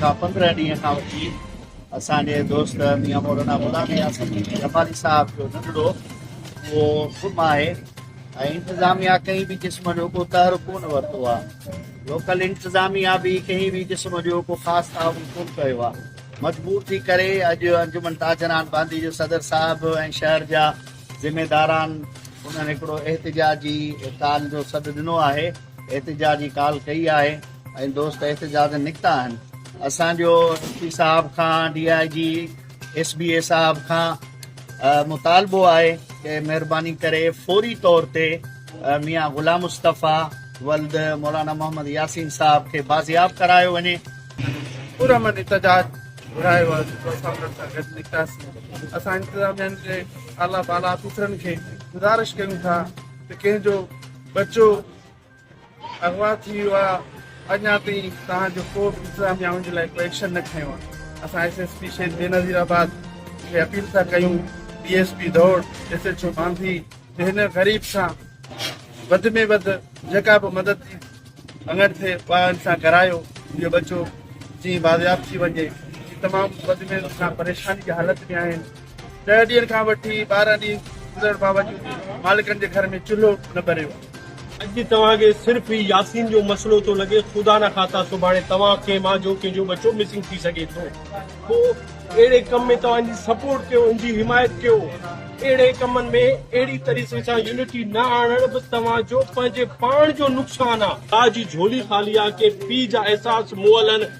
کان پندرهن ڏينهن کان وٺي اسان جي دوست ميان مولانا غلام نياز جمالي صاحب جو ننڍڙو اهو گم آهي ۽ انتظاميا ڪنهن به قسم جو ڪو تحر ڪونه ورتو آهي لوڪل انتظاميا به ڪنهن به قسم جو ڪو خاص تعاون ڪونه ڪيو آهي مجبور ٿي ڪري اڄ انجمن تاجران باندي جو صدر صاحب ۽ شهر جا ذميداران انهن هڪڙو احتجاجي ڪال جو سڏ ڏنو آهي احتجاجي ڪال ڪئي آهي ۽ دوست احتجاجن نڪتا آهن اسان جو ايس پي صاحب کان D I G S B A صاحب کان مطالبو آهي ته مهرباني ڪري فوري طور تي ميان غلام مصطفيٰ ولد مولانا محمد ياسين صاحب کي بازياب ڪرايو وڃي. پرامن احتجاج گهرايو آهي جيڪو اسان انهن سان گڏ نڪتاسين اسان انتظاميا جي اعليٰ بالا آفيسرن کي گذارش ڪيون ٿا ته ڪنهن جو ٻچو اغوا ٿي ويو آ اڃا تائين توهان جو ڪوبه انتظاميا ان جي لاء ڪو ايڪشن نه کنيو آ اسان S S P Shaheed Benazirabad کي اپيل ٿا ڪيون ڊي ايس پي ڌوڙ ايس ايچ او مانڌي ته هن غريب سان وڌ ۾ وڌ جيڪا به مدد جي اڱڻ ٿئي اها ان سان ڪرايو اهو ٻچو جيئن بازياب ٿي وڃي تمام وڌ ۾ وڌ سان پريشاني جي حالت ۾ آهن ڏهه ڏينهن کان وٺي ٻارهن ڏينهن گذرڻ باوجود مالڪن جي گهر ۾ چلهو نه ٻريو آهي. اڄ توهان کي صرف هي ياسين جو مسئلو ٿو لڳي، خدا نه کاتا سڀاڻي توهان کي مان جو ڪنهن جو ٻچو مسنگ ٿي سگهي ٿو. پوء اهڙي ڪم ۾ توهان انجي سپورٽ ڪيو، انجي حمايت ڪيو. اهڙي ڪمن ۾ اهڙي طريقي سان يونٽي نه آڻڻ به توهان جو پنهنجي پاڻ جو نقصان آ. ماء جي جهولي خالي آ، ڪي پيء جا احساس مئلن.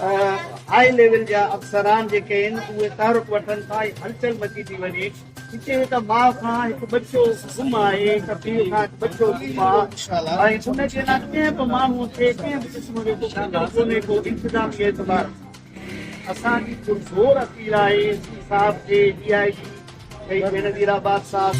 هاء ليول جا افسران جيڪي آهن اهي تحرڪ وٺن ٿا ۽ هلچل مچي ٿي وڃي. هتي هڪ ماء کان هڪ ٻچو گم آهي، هڪ پيء کان هڪ ٻچو گم آ ۽ ان جي لاء ڪنهن به ماڻهوء کي ڪنهن به قسم جو ڪو فڪر ڪونهي ڪو انتظامي اعتبار اسان جي پرزور اپيل آهي ايس پي صاحب کي ڊي آء جي ۽ بينظير آباد صاحب.